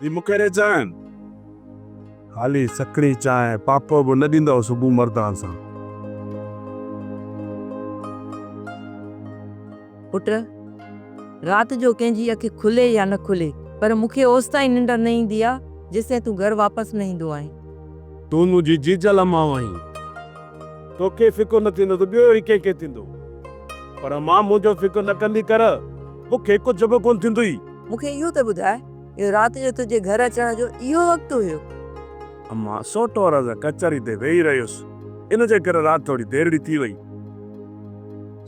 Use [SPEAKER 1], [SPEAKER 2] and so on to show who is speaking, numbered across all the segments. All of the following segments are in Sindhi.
[SPEAKER 1] جي مون ڪهڙي چانهن.
[SPEAKER 2] خالي سڪڻي چانهن پاپو به نه ڏيندو هو صبح مردان سان.
[SPEAKER 3] پٽ! رات جو ڪنهن جي اک کلي يا نه کلي، پر مون کي اوستائين ننڊ نه ايندي آ، جيستائين تون گهر واپس نه ايندو آهين. تون منهنجي
[SPEAKER 2] جيجل امان آهين. توکي فڪر نه ٿيندو ته ٻيو وري ڪنهن کي ٿيندو. پر امان منهنجو فڪر نه ڪندي ڪر، مون کي ڪجهه به ڪونه ٿيندوئي. مون کي اهو ته ٻڌاء،
[SPEAKER 3] اهو رات جو تنهنجي گهر اچڻ جو اهو وقت هيو؟ امان!
[SPEAKER 2] سو ٽوئر جي ڪچهري تي ويهي رهيس، ان جي ڪري رات ٿوري ديرڙي ٿي وئي.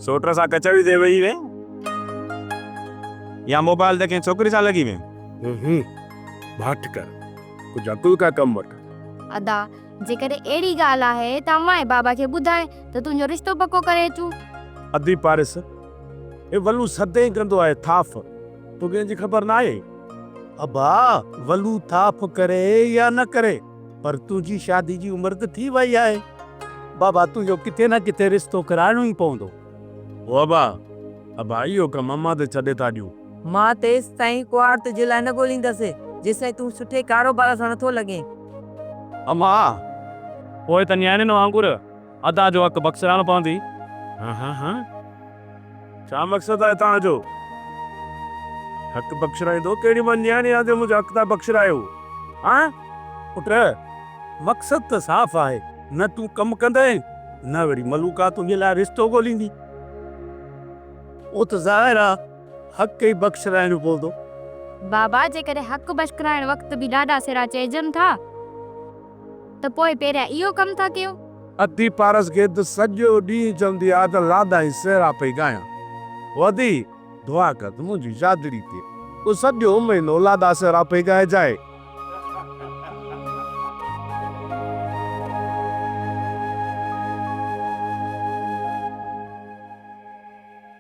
[SPEAKER 4] سوٽ سان ڪچهري ٿي ويئي هئي يا موبائل تي ڪنهن ڇوڪري سان لڳي ويم. هونهون
[SPEAKER 2] ڀاٽ ڪر ڪجهه عقل ڪا ڪم وٺ. ادا
[SPEAKER 5] جيڪڏهن اهڙي ڳالهه آهي ته اوهان ئي بابا کي ٻڌاء ته تنهنجو رشتو پڪو ڪري اچون. ادي پارس
[SPEAKER 2] هي ولو سدين ڪندو آهي ٿاڦ توکي ان جي خبر ناهي. ابا
[SPEAKER 1] ولو ٿاڦ ڪري يا نه ڪري. پر تنهنجي شادي جي عمر ته ٿي وئي آهي. بابا تنهنجو ڪٿي نه ڪٿي رشتو ڪرائڻو ئي پوندو. هو ابا،
[SPEAKER 2] ابا اهو ڪم امان تي ڇڏي ٿا ڏيون. مان تيستائين
[SPEAKER 3] ڪنوار تنهنجي لاء نه ڳوليندس، جيستائين تون سٺي ڪاروبار سان نٿو لڳين. امان،
[SPEAKER 4] پوء ته نياڻين وانگر ادا جو حق بخشران پوندي. ها ها ها
[SPEAKER 2] ڇا مقصد آهي توهان جو حق بخشرائيندو ڪهڙي مان نياڻي آندي منهنجو حق ٿا بخشرايو ها پٽ
[SPEAKER 1] مقصد ته صاف آهي نه تون ڪم ڪندين نه وري ملوڪا تنهنجي لاء رشتو ڳوليندي پوء ته ظاهر آ حق ئي بخشرائڻو پوندو. بابا
[SPEAKER 5] جيڪڏهن حق بشڪرائڻ وقت به ڏاڍا سرا چئجن ٿا. ته پوء پهريان اهو ڪم ٿا ڪيون. ادي پارس
[SPEAKER 2] گيت سڄو ڏينهن چوندي آ ته لاڏا ۽ سهرا پئي ڳايان. او ادي! دعا ڪر ته منهنجي شادڙي ٿئي. او سڄو مهينو لاڏا سهرا پئي ڳائجائي.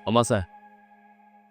[SPEAKER 2] اما
[SPEAKER 4] سائين!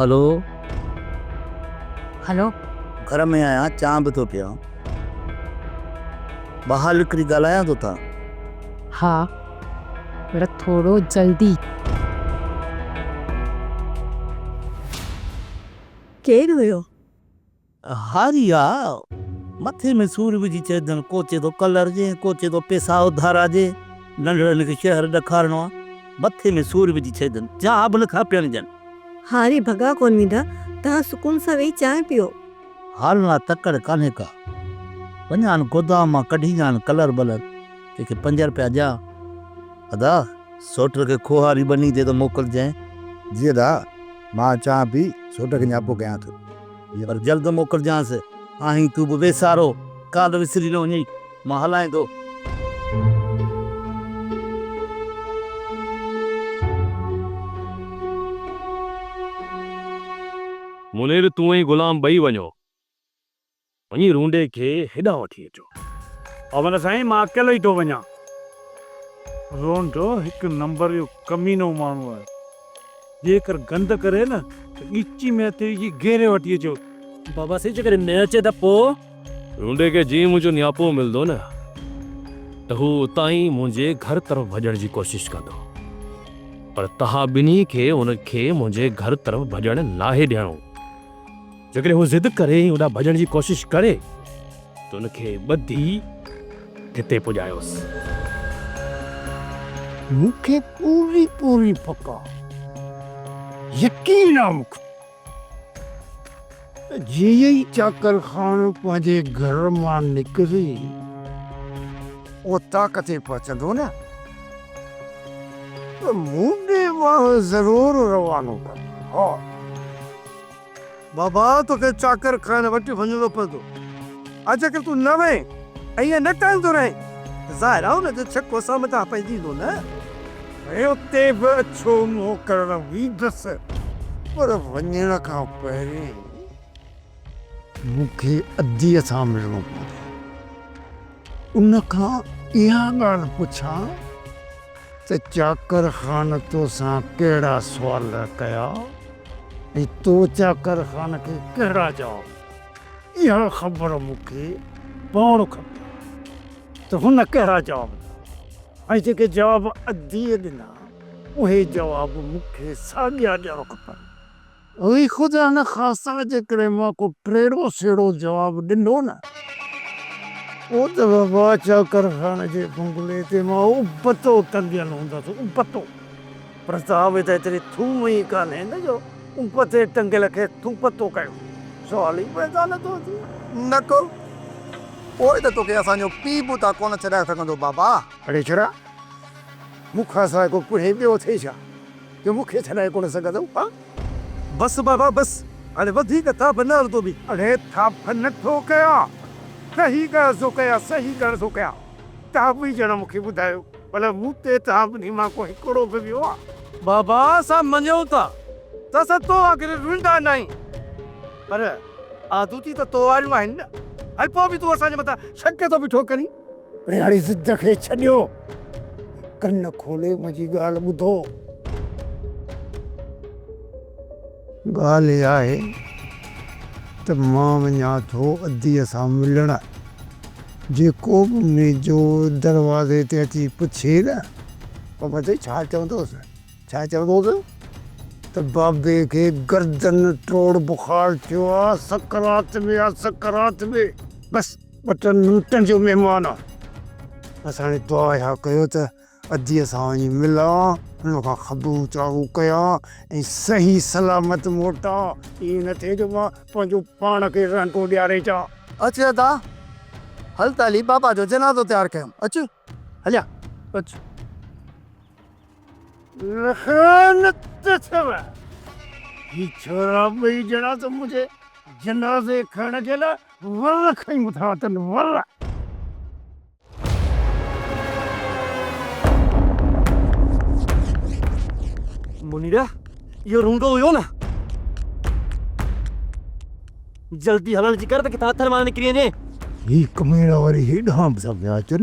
[SPEAKER 1] هلو.
[SPEAKER 3] هلو. گهر ۾ آهيان
[SPEAKER 1] چانهه به ٿو پيان. ٻاهر نڪري ڳالهايان تو تان. ها
[SPEAKER 6] پر ٿورو جلدي.
[SPEAKER 3] ڪير هيو؟
[SPEAKER 1] هاريا، مٿي ۾ سور وجهي چئجن، ڪو چئي ٿو ڪلرجي، ڪو چئي ٿو پيسا اڌاراجي، ننڍڙن کي شهر ڏکارڻو آ، مٿي ۾ سور وجهي چئجن، چانهه به نه ٿا پيڻجن. هاري، ڀڳا
[SPEAKER 3] ڪونه ويندا، توهان سڪون سان ويهي چانهه پيئو. هاريا،
[SPEAKER 1] تڪڙ ڪانهي ڪا، وڃان گودام مان ڪڍي ڄان ڪلر بلر، ڪنهن کي پنج رپيا ڏيان. ادا، سوٽر کي کوهاري ٻني تي ته موڪلجانء. جي ادا،
[SPEAKER 2] مان چانهه پي سوٽر کي نياپو ڪيان ٿو. پر جلد
[SPEAKER 1] موڪلجانس، آهين تون به ويسارو، ڪالهه وسري نه وڃين، مان هلائين ٿو.
[SPEAKER 4] منير تون ۽ غلام ٻئي وڃو، وڃي رونڊي کي هيڏانهن وٺي اچو. اوهان نه
[SPEAKER 7] سائين، مان اڪيلو ئي ٿو وڃان. رونڊو هڪ نمبر جو ڪمينو ماڻهو آهي. جيڪر گند ڪري نه ته ڳچي ۾ هٿ وجهي گهيري وٺي اچو. بابا سائين جيڪڏهن
[SPEAKER 4] نه اچي ته پوء؟ لونڊي کي جيئن منهنجو نياپو ملندو نه ته هو اتان ئي منهنجي گهر طرف ڀڄڻ جي ڪوشش ڪندو. پر توهان ٻنهي کي هن کي منهنجي گهر طرف ڀڄڻ ناهي ڏيڻو. جيڪڏهن هو ضد ڪري ۽ هوڏانهن ڀڄڻ جي ڪوشش ڪري ته هن کي ٻڌي هتي پڄايوس.
[SPEAKER 7] مون کي پوري پوري پڪ آ، يقين آ مون کي ته جيئن ئي چاڪر خان پنهنجي گهر مان نڪري
[SPEAKER 2] اوطاق تي پهچندو نه
[SPEAKER 7] ته مون ڏي مان ضرور روانو ڪندو. ها،
[SPEAKER 2] بابا توکي چاڪر خانه وٽ وڃڻو پوندو. اڄ اگر تون نه وئين ۽ ائين نه ٽهندو رهين ته ظاهر آهي ان جو ڇڪو اسان مٿان پئجندو نه. ۽ اتي به اڇو منهن ڪرڻ ويندس پر وڃڻ کان پهرين مون کي اديء سان ملڻو پوندو. ان کان اها ڳالهه پڇان ته چاڪر خان تو سان ڪهڙا سوال ڪيا ۽ تو چاڪر خان کي ڪهڙا جواب ڏنا؟ اها خبر مون کي پوڻ کپي ته هن ڪهڙا جواب ڏنا ۽ جيڪي جواب اديء ڏنا، اهي جواب مون کي ساڳيا ڏيڻ کپن. هي خدا نخواسته جيڪڏهن مان ڪو ٽيڙو سيڙو جواب ڏنو نه پوء ته بابا چاڪرخان جي بنگلي تي مان ابتو ٽنگيل هوندس، ابتو! پر تان ۾ ته ايتري ٿوم ئي ڪانهي نه جو ابتي ٽنگيل کي ٿوپتو ڪيو. سوال ئي پيدا نه ٿو ٿئي. نڪو!
[SPEAKER 8] پوء ته توکي اسان جو پيء به اتان ڪونه ڇڏائي سگهندو بابا! اڙي ڇڙا!
[SPEAKER 2] مون کان سواء ڪو پڙهي ٻيو اٿئي ڇا؟ جو مون کي ڇڏائي ڪونه سگهندؤ ها؟ بس بابا بس، هاڻي وڌيڪ ٿاڦ نه هڻ تو به. اڙي ٿاڦ نه ٿو ڪيان، صحيح ڳالهه ٿو ڪيان، صحيح ڳالهه ٿو ڪيان. توهان ٻئي ڄڻا مون کي ٻڌايو، ڀلا مون تي توهان ٻنهي مان ڪو هڪڙو به ويو آ؟ بابا اسان مڃون ٿا ته اسان تو آگري روئندا ناهيون، پر آدوتي ته تو واريون آهن نه، هل پوء به تون اسان جي مٿان شڪ ٿو بيٺو ڪرين. هاڻي ضد کي ڇڏيو، ڪن کولي منهنجي ڳالهه ٻڌو. ڳالهه اها آهي ته مان وڃان ٿو اديء سان ملڻ. جيڪو به منهنجو دروازي تي اچي پڇي نه ته مان ڇا چوندوس؟ ڇا چوندوس ته بابي کي گردن ٽوڙ بخار ٿيو آهي، سڪرات ۾ آهي، سڪرات ۾. بس! ٻٽن منٽن جو مهمان آ، بس هاڻي دعا اها ڪيو ته اديء سان وڃي ملان، ان کان خبرون چارون ڪيان ۽ صحيح سلامت موٽان، ائين نه ٿئي جو مان پنهنجو پاڻ کي رهنڪو ڏياري اچان. اچ ادا،
[SPEAKER 8] هل ته هلي بابا جو جنازو تيار ڪيون، اچ هليا اچ.
[SPEAKER 2] لعنت اٿيو، هي ڇورا ٻئي ڄڻا ته منهنجي جنازي کڻڻ جي لاء ور کڻي مٿان اچن ور.
[SPEAKER 1] منيرا اهو رونڊو هيو نه. جلدي هلڻ جي ڪر ته ڪٿان اٿر مان نڪري وڃي. هي ڪميڻا
[SPEAKER 2] وري هيڏانهن به ٿا پيا اچن.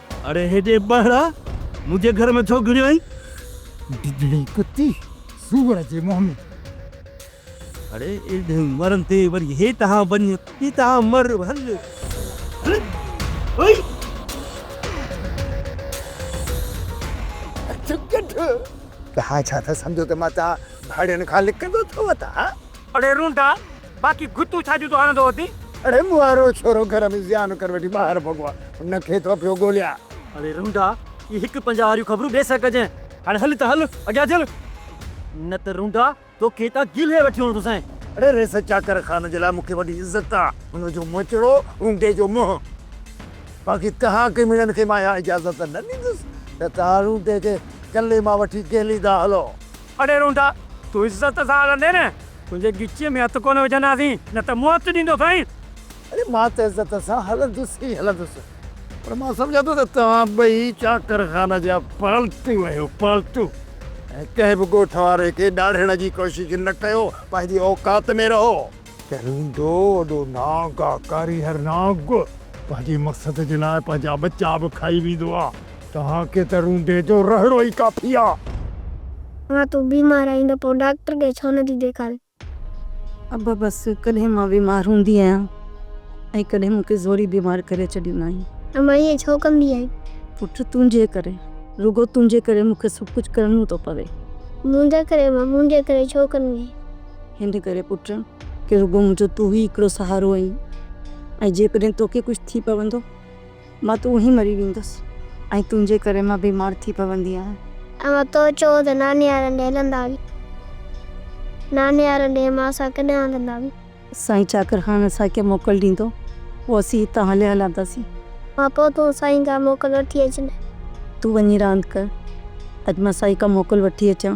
[SPEAKER 1] اڙي هيڏي ٻهران منهنجي گهر ۾ ڇو گهڙيو آهين؟ ڊڄڻي
[SPEAKER 2] ڪتي سوئر جي منهن ۾.
[SPEAKER 1] اڙي ايڏي مرن تي وري هيتان وڃ هيتان مر هل هل.
[SPEAKER 2] اچ ڪڍ. توهان ڇا ٿا سمجهو ته مان توهان ڀاڙين کان لڪندو ٿو وتان ها. اڙي رونڊا.
[SPEAKER 7] باقي گتو ڇا جوتو هڻندو هوتين. اڙي موهارو
[SPEAKER 2] ڇورو گهر ۾ زيان ڪري ويٺي ٻاهر ڀڳو آ ان کي ٿو پيو ڳوليان. اڙي رنڊا
[SPEAKER 1] اهي هڪ پنج واريون خبرون ٻي سان ڪجين. هاڻي هل ته هل اڳيان جل نه ته رنڊا توکي هتان گيلهي وٺي وڃڻو اٿائين. اڙي ريس چاڪر
[SPEAKER 2] خان جي لاء مون کي وڏي عزت آ هن جو موچڙو اونگي جو منهن باقي توهان ڪميڻن کي مان اها اجازت نه ڏيندس ته توهان رنڊي کي ڪلي مان وٺي گيلهيندا هلو. اڙي رونڊا!
[SPEAKER 7] تون عزت سان هلندين نه؟ تنهنجي ڳچيء ۾ هٿ ڪونه وجهنداسين، نه ته موت ڏيندوسانء! اڙي مان ته
[SPEAKER 2] عزت سان هلندس ئي هلندس، پر مان سمجهان ٿو ته توهان ٻئي چاڪر خانه جا پالتو آهيو، پالتو! ۽ ڪنهن به ڳوٺ واري کي ڏاڙهڻ جي ڪوشش نه ڪيو، پنهنجي اوقات ۾ رهو! چرندو وڏو ناگ آ، ڪاري هر ناگ پنهنجي مقصد جي لاء پنهنجا ٻچا به کائي ويندو آ، توهان کي ته رونڊي جو رهڙو ئي ڪافي آ. ها
[SPEAKER 9] تون بيمار آهين ته پوء ڊاڪٽر کي ڇو نٿي ڏيکارين؟ ابا
[SPEAKER 3] بس ڪڏهن مان بيمار هوندي آهيان ۽ ڪڏهن مون کي زوري بيمار ڪري ڇڏيندا آهين. اما ائين ڇو
[SPEAKER 9] ڪندي آهين؟ پٽ تنهنجي
[SPEAKER 3] ڪري، رڳو تنهنجي ڪري مون کي سڀ ڪجهه ڪرڻو ٿو پوي. منهنجي ڪري؟
[SPEAKER 9] اما منهنجي ڪري ڇو ڪندي آهين؟ هن ڪري پٽ،
[SPEAKER 3] ڪي رڳو منهنجو تون ئي هڪڙو سهارو آهين ۽ جيڪڏهن توکي ڪجهه ٿي پوندو، مان ته اونهي ئي مري ويندس ۽ تنهنجي ڪري مان بيمار ٿي پوندي آهيان. اما
[SPEAKER 9] تو چئو ته نانيهارن ڏي هلنداسين. نانيهارن ڏي مان سان ڪڏهن هلنداسين؟ سائين چاڪر خان
[SPEAKER 3] اسان کي موڪل ڏيندو، پوء اسين هتان هليا هلنداسين. اما پوء تون
[SPEAKER 9] سائين کان موڪل وٺي اچ نه. تون وڃي
[SPEAKER 3] راند ڪر، اڄ مان سائين کان موڪل وٺي اچان.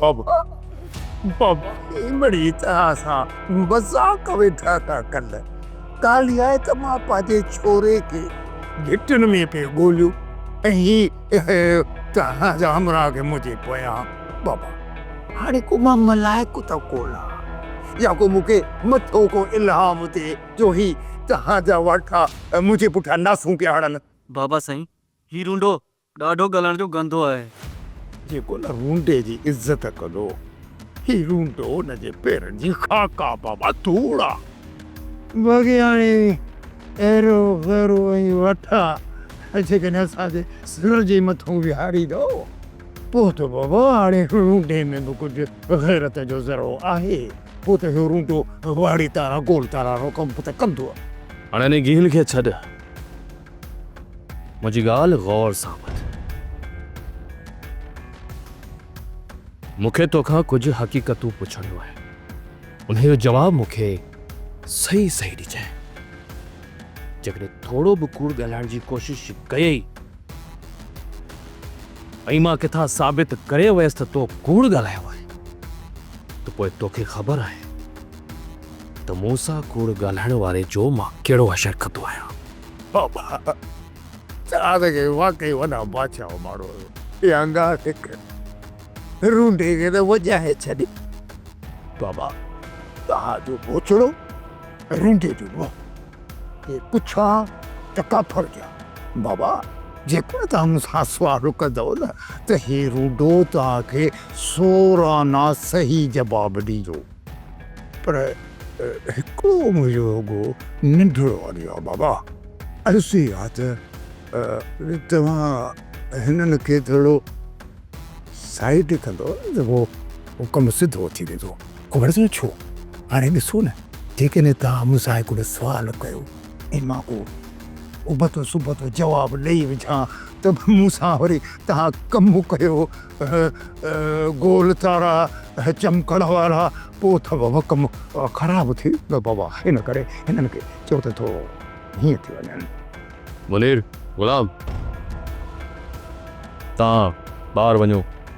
[SPEAKER 2] بابا بابا امڙي ته اسان مذاق ويٺا ٿا ڪن ڳالهه اها آهي ته مان پنهنجي ڇوري کي گهٽين ۾ پئي ڳوليو ۽ هي توهان جا همراهه کي منهنجي پويان بابا هاڻي ڪو مان ملائڪ ته ڪونه آهيان يا ڪو مون کي مٿو ڪو الهام ٿئي جو هي توهان جا واٺا منهنجي پٺيان ناسون پيا هڻن. بابا سائين
[SPEAKER 10] هي رونڊو ڏاڍو ڳالهائڻ جو گندو آهي. جيڪو نه
[SPEAKER 2] رونڊي جي عزت ڪندو هي رونڊو ان جي پيرن جي خاڪ آ بابا ڌوڙ آ. بگياڻي اهڙو غيرو ۽ وٺ آ جيڪڏهن اسان کي سر جي مٿو ويهاريندو پوء ته بابا هاڻي رونڊي ۾ به ڪجهه غيرت جو ذرو آهي پوء ته اهو رونڊو واڙي تارا گول تارا رقم به ته ڪندو. هاڻي انهي گيهن کي
[SPEAKER 4] ڇڏ. منهنجي ڳالهه غور سان ٻڌ. مون کي توکان ڪجهه حقيقتون پڇڻيون آهن. انهيء جو جواب مون کي صحيح صحيح ڏجانء. جيڪڏهن ٿورو به ڪوڙ ڳالهائڻ جي ڪوشش ڪيئي ۽ مان ڪٿان ثابت ڪري ويس ته تو ڪوڙ ڳالهايو آهي ته پوء توکي خبر آهي ته مون سان ڪوڙ ڳالهائڻ واري جو مان ڪهڙو حشر کتو آهيان. بابا
[SPEAKER 2] سعد کي واقعي وڏا بادشاهه جو ماڻهو هيو. اها ڳالهه هڪ رونڊي کي ته وڄائي ڇڏي. بابا توهان جو بوچڙو ۽ رونڊي جو منهن کي پڇان ته ڪافر جا. بابا جيڪڏهن توهان مون سان سوال ڪندؤ نه ته هي رونڊو توهان کي سورانه صحيح جواب ڏيندو. پر هڪڙو منهنجو رڳو ننڍڙو آڏيو آ بابا. عرض هي آ ته توهان هنن کي ٿورو سائيڊ ڪندو ته پوء ڪم سڌو ٿي ويندو. خبر اٿئي ڇو؟ هاڻي ڏسو نه جيڪڏهن توهان مون سان هڪڙو سوال ڪيو ۽ مان ڪو ابتو سبتو جواب ڏئي وجهان ته مون سان وري توهان ڪم ڪيو گول تارا چمڪڻ وارا پوء ته بابا ڪم خراب ٿي ويندو بابا ان ڪري هنن کي چئو ته ٿورو هيئن ٿي وڃن. منير،
[SPEAKER 4] غلام توهان ٻاهر وڃو.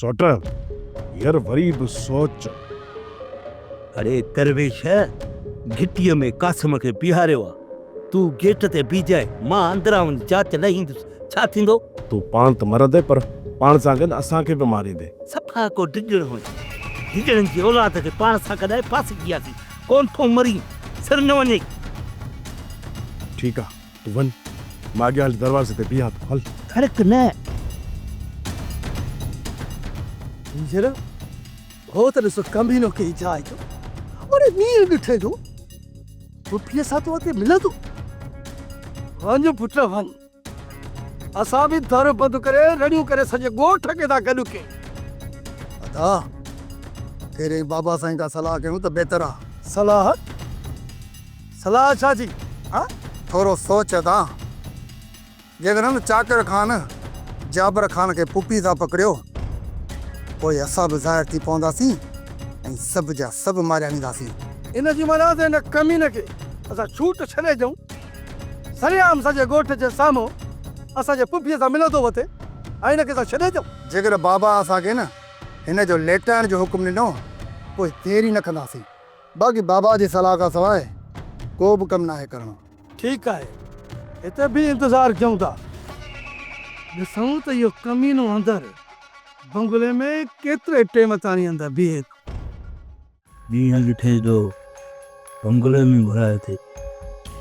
[SPEAKER 2] سوٽر، هينئر وري به سوچ.
[SPEAKER 1] اڙي درويش، گهٽيء ۾ قاسم کي بيهاريو آ، تون گيٽ تي بيهجانء، مان اندران وڃي جاچ لهي ايندس، ڇا ٿيندو؟ تون پاڻ ته
[SPEAKER 11] مرندين، پر پاڻ سان گڏ اسان کي به ماريندين. صفا ڪو ڊڄڻ
[SPEAKER 1] هئين، ڊڄڻن جي اولاد کي پاڻ سان گڏ ۽ ڦاسي جياسين، ڪونه ٿو مرين، سر نه وڃي.
[SPEAKER 11] ٺيڪ آ. تون وڃ، مان اڳيان هلي دروازي تي بيهان ٿو. هل! ڪڙڪ نه!
[SPEAKER 1] هينئر
[SPEAKER 8] هو ته ڏسو ڪمينو ڪنهن جاء جو اڙي مينهن ڏٺي ٿو، پڦيء سان تون اتي ملين ٿو. وڃ پٽ وڃ، اسان به در بند ڪري رڙيون ڪري سڄي ڳوٺ کي ٿا گڏ ڪيون. ادا! پهريائين بابا سائين کان صلاح ڪيون ته بهتر آ. صلاح؟ صلاح ڇا جي ها؟ ٿورو سوچ ادا! جيڪڏهن چاڪر خان جابر خان کي پوپي سان پڪڙيو، پوء اسان به ظاهر ٿي پونداسين ۽ سڀ جا سڀ ماريا وينداسين. ان جي معنيٰ ته ان ڪميني کي اسان ڇوٽ ڇڏي ڏيون، سرعام سڄي ڳوٺ جي سامهون اسان جي پوپي سان ملندو وتي ۽ ان کي اسان ڇڏي ڏيون. جيڪڏهن بابا اسان کي نه هن جو ليٽائڻ جو حڪم ڏنو، پوء دير ئي نه ڪنداسين. باقي بابا جي صلاح کان سواء ڪو به ڪم ناهي ڪرڻو. ٺيڪ آهي هتي بيهي انتظار ڪيون ٿا. ڏسون ته اهو ڪمينو اندر بنگلي ۾ ڪيتري ٽيم تاڻي اندر بيهي ٿو.
[SPEAKER 1] ڏينهن ڏٺي جو بنگلي ۾ گهرائي اٿي.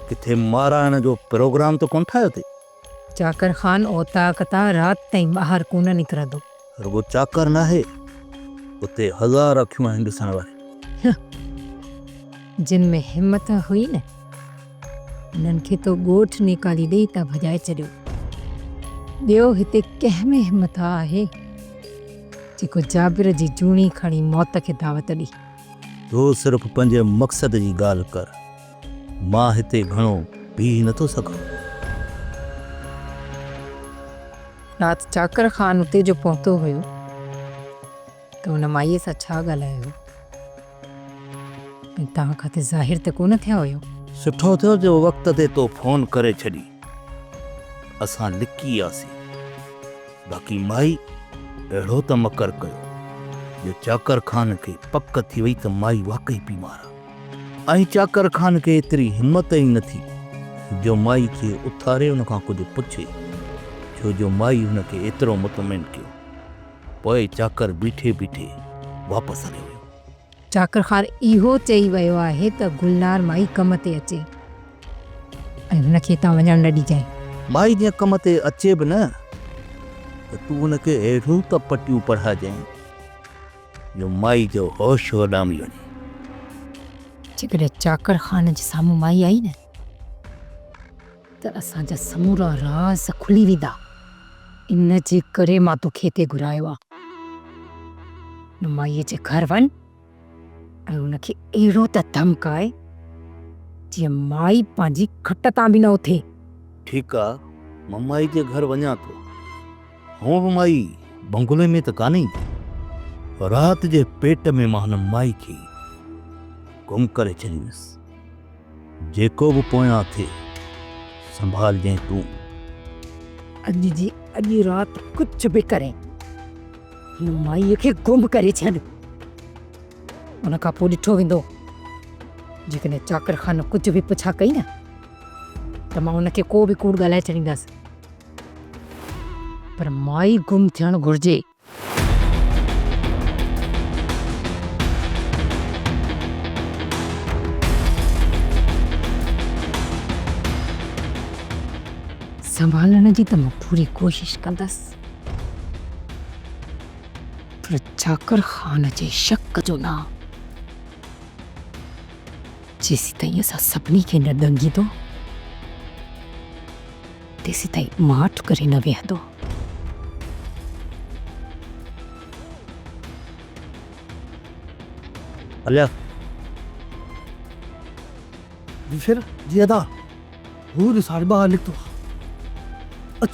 [SPEAKER 1] ڪٿي مارائڻ جو پروگرام ته ڪونه ٺاهيو اٿئي. چاڪر خان
[SPEAKER 6] اوطاق تان رات تائين ٻاهر ڪونه نڪرندو. رڳو چاڪر
[SPEAKER 1] ناهي، اتي هزار اکيون آهن ڏسڻ واريون. هه.
[SPEAKER 6] جن ۾ همت هئي نه، انهن کي تو ڳوٺ نيڪالي ڏيئي تان ڀڄائي ڇڏيو. ٻيو هتي ڪنهن ۾ همت آهي، جيڪو جابر جي جوڻي کڻي موت کي دعوت ڏئي. تو صرف
[SPEAKER 1] پنهنجي مقصد جي ڳالهه ڪر. مان هتي گهڻو بيهي نه ٿو سگهان. رات
[SPEAKER 6] چاڪر خان اتي جو پهتو هيو ته هن مائيء سان ڇا ڳالهايو ۽ توهان کاتي ظاهر ته ڪونه ٿيا هيو؟ سٺو ٿيو جو
[SPEAKER 1] وقت تي تو فون ڪري ڇڏي. اسان لڪي وياسين. باقي مائي اهڙو ته مڪر ڪيو جو چاڪر خان کي پڪ ٿي وئي ته مائي واقعي بيمار آ. ۽ چاڪر خان کي ايتري همت ئي نه ٿي جو مائي کي اٿاري ان کان ڪجهه پڇي، ڇو جو مائي هن کي ايترو مطمئن ڪيو. پوء چاڪر بيٺي بيٺي واپس هليو ويو. چاڪر خان
[SPEAKER 6] اهو چئي ويو آهي ته گلنار مائي ڪم تي اچي ۽ هن کي هتان وڃڻ نه ڏجانء. مائي جي ڪم
[SPEAKER 1] تي اچي به نه ته تون هن کي اهڙيون ته پٽيون پڙهائجانء. جو مائي جو هوش اڏامي وڃي.
[SPEAKER 6] جيڪڏهن چاڪر خان جي سامهون مائي آئي نه ته اسان جا سمورا راز کلي ويندا. ان جي ڪري مان تو کي هتي گهرايو آ. هن مائي جي گهر وڃ ۽ ان کي اهڙو ته ڌمڪاء جيئن مائي پنهنجي کٽ تان به نه اٿي. ٺيڪ آ،
[SPEAKER 1] مان مائي جي گهر وڃان ٿو. هونء مائي بنگلي ۾ ته ڪانه ايندي. رات جي پيٽ ۾ مان هن مائي کي گم ڪري ڇڏيندس. جيڪو به پويان ٿئي، سنڀالجئين تون.
[SPEAKER 6] اڄ جي اڄ رات ڪجهه به ڪري هن مائي کي گم ڪري ڇڏ. ان کان پوء ڏٺو ويندو. جيڪڏهن چاڪر خان ڪجهه به پڇا ڪئي نه ته مان هن کي ڪو به ڪوڙ ڳالهائي ڇڏيندس. پر مائي گم ٿيڻ گهرجي. سنڀالڻ جي ته مان پوري ڪوشش ڪندس، پر چاڪر خان جي شڪ جو نه، جيسيتائين اسان سڀني کي نه ڏنگيندو. تيسيتائين ماٺ ڪري نه ويهندو.
[SPEAKER 1] هليا. ڀيشر،
[SPEAKER 8] جي ادا. هو به ساڙ ٻاهر نڪتو آ. اچ.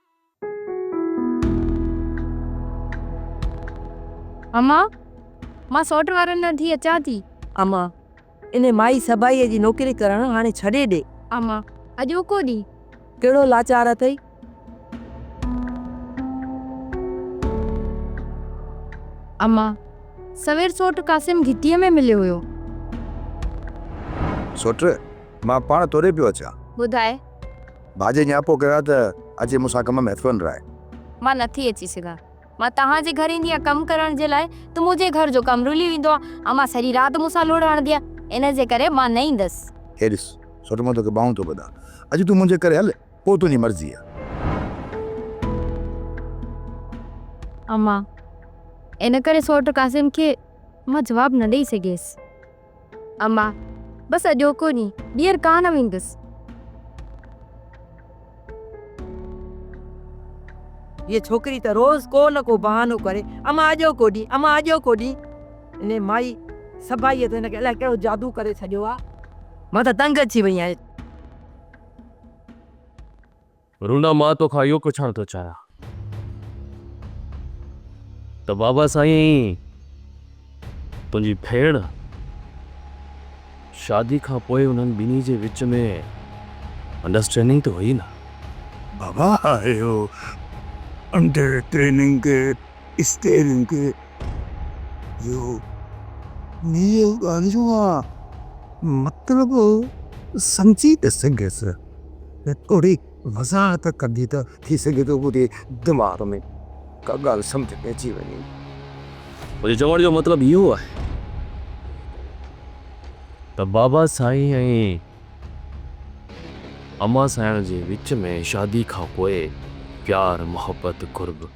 [SPEAKER 5] امان، مان سئوٽ وارن ڏانهن ٿي اچان ٿي. امان،
[SPEAKER 3] انهي مائي سڀائيء جي نوڪري ڪرڻ هاڻي ڇڏي ڏي. امان،
[SPEAKER 5] اڄوڪو ڏينهن. ڪهڙو لاچار
[SPEAKER 3] اٿئي؟
[SPEAKER 5] امان، سوير سئوٽ قاسم گهٽيء ۾ مليو هيو.
[SPEAKER 11] سئوٽ، مان پاڻ توري پيو اچان. ٻڌاء.
[SPEAKER 5] ڀاڄي
[SPEAKER 11] نياپو ڪيو آهي ته اچي مون سان ڪم ۾ هٿ ونڊرائي. مان نٿي اچي
[SPEAKER 5] سگهان. مان توهان جي گهر ايندي آهيان ڪم ڪرڻ جي لاء ته منهنجي گهر جو ڪم رلي ويندو آهي. امان سڄي رات مون سان لوڙ هڻندي آهي. ان جي ڪري مان نه ايندس. هي ڏس سوٽ
[SPEAKER 11] مان توکي ٻانهون ٿو ٻڌان. اڄ تون منهنجي ڪري هل پوء تنهنجي مرضي آهي. امان
[SPEAKER 5] ان ڪري سوٽ قاسم کي مان جواب نه ڏئي سگهيس. اما، بس اڄوڪو ڏينهن، ٻيهر ڪا نه ويندس. هيء
[SPEAKER 3] ڇوڪري ته روز ڪو نه ڪو بهانو ڪري، اما اڄوڪو ڏينهن، اما اڄوڪو ڏينهن. انهيء مائي سڀائيء ته هن کي الائي ڪهڙو جادو ڪري ڇڏيو آ. مان ته تنگ اچي وئي آهيان.
[SPEAKER 4] رونا مان توکان اهو پڇڻ ٿو چاهيان ته بابا سائين تنهنجي ڀيڻ شادي کان پوء انهن ٻنهي جي وچ ۾ انڊرسٽينڊنگ ته هئي نه؟ بابا
[SPEAKER 2] اهو انڊرسٽينڊنگ اسٽيئرنگ کي جو نيو ڳالهيون ها مطلب سمجهي ته سگهيس ته ٿوري وضاحت ڪندي ته ٿي سگهي ٿو ڪٿي دماغ ۾ ڪا ڳالهه سمجهه ۾ اچي وڃي. منهنجي
[SPEAKER 4] چوڻ جو مطلب اهو آهي ته بابا سائين ۽ امان سائڻ جي وچ ۾ شادي کانپوء پيار، محبت، قرب.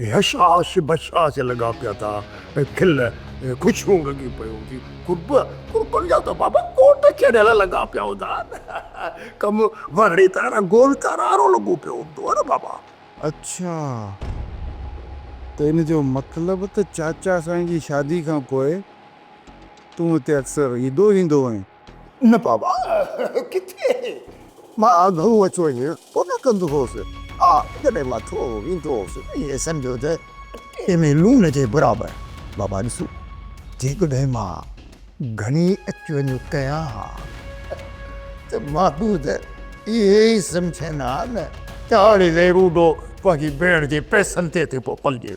[SPEAKER 2] هش هش بش هش لڳا پيا ٿا ۽ کل ۽ خوشيون لڳي پيون هوندي قرب قرب جا ته بابا ڪوٽ چڙهيل لڳا پيا هوندا ڪم ورڙي تارا گول تارارو لڳو پيو هوندو نه بابا. اڇا
[SPEAKER 11] ته ان جو مطلب ته چاچا سائين جي شادي کان پوء تون هتي اڪثر ايندو ويندو هئين. نه بابا
[SPEAKER 2] ڪٿي، مان اڳهون اچو ائين ڪونه ڪندو هوس، ها جڏهن مان ٿورو ويندو هوس ته ائين سمجهو ته اٽي ۾ لوڻ جي برابر، بابا ڏسو جيڪڏهن مان گهڻي اچ وڃ ڪيان ها ته ماڻهو ته اهي ئي سمجهن ها نه ته هاڻي ليرونڊو پنهنجي ڀيڻ جي پئسن تي ٿي پيو پلجي.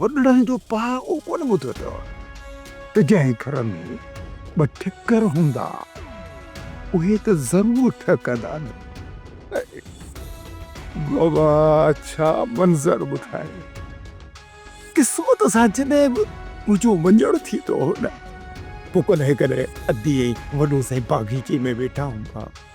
[SPEAKER 2] وڏڙن جو پهاڪو ڪونه ٻڌو اٿئو ته جنهن گهر ۾ ٻه ٺڪر هوندا اهي ته ضرور ٺهڪندا نه؟ اي بابا ڇا منظر ٻڌايان، قسمت سان جڏهن به منهنجو مڃڻ ٿيندو هو نه پوء ڪڏهن ڪڏهن ادي ۽ وڏو سائين باغيچي ۾ ويٺا هوندا ها.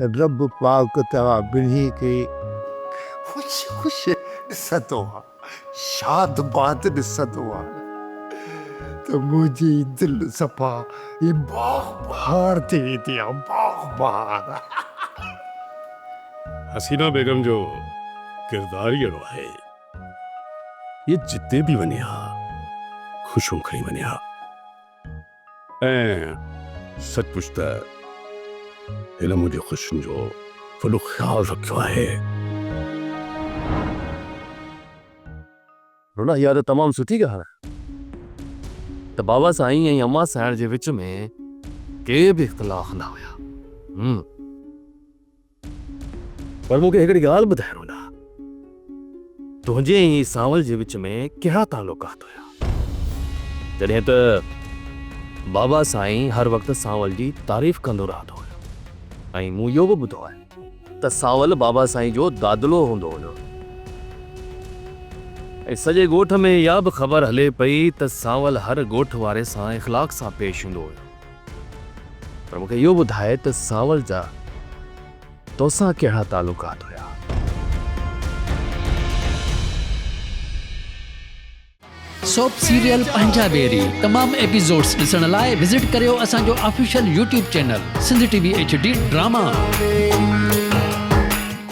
[SPEAKER 2] رب پاڪ توهان ٻنهي کي خوش خوش ڏسندو ها شاد باد ڏسندو ها ته منهنجي دل صفا ئي باغ بهار ٿي ويندي ها باغ بهار.
[SPEAKER 11] حسينه بيگم جو ڪردار ئي اهڙو آهي هيء جتي به وڃي ها خوشيون کڻي وڃي ها. ۽ سچ پچ ته هن منهنجي خوشين جو وڏو خيال رکيو آهي.
[SPEAKER 4] رونا اها ته تمام سٺي ڳالهه آهي ته بابا سائين ۽ امان سائڻ جي وچ ۾ ڪي به اختلاف نه هيا. پر مون کي هڪڙي ڳالهه ٻڌاء رولا، تنهنجي ۽ هي سانول جي وچ ۾ ڪهڙا تعلقات هيا؟ جڏهن ته بابا سائين هر وقت سانول جي تعريف ڪندو رهندو هيو ۽ مون اهو به ٻڌو آهي ته سانول بابا سائين جو دادلو هوندو هيو ۽ سڄي ڳوٺ ۾ اها به خبر هلي پئي ته سانول هر ڳوٺ واري سان اخلاق سان پيش ايندو هيو. پر مون کي اهو ٻڌاء ته سانول جا توسان ڪهڙا تعلقات هيا؟
[SPEAKER 12] سوپ سيريل پنهنجا ويري تمام ايپيسوڊس ڏسڻ لاء وزٽ ڪريو اسان جو official YouTube channel Sindh T V H D drama.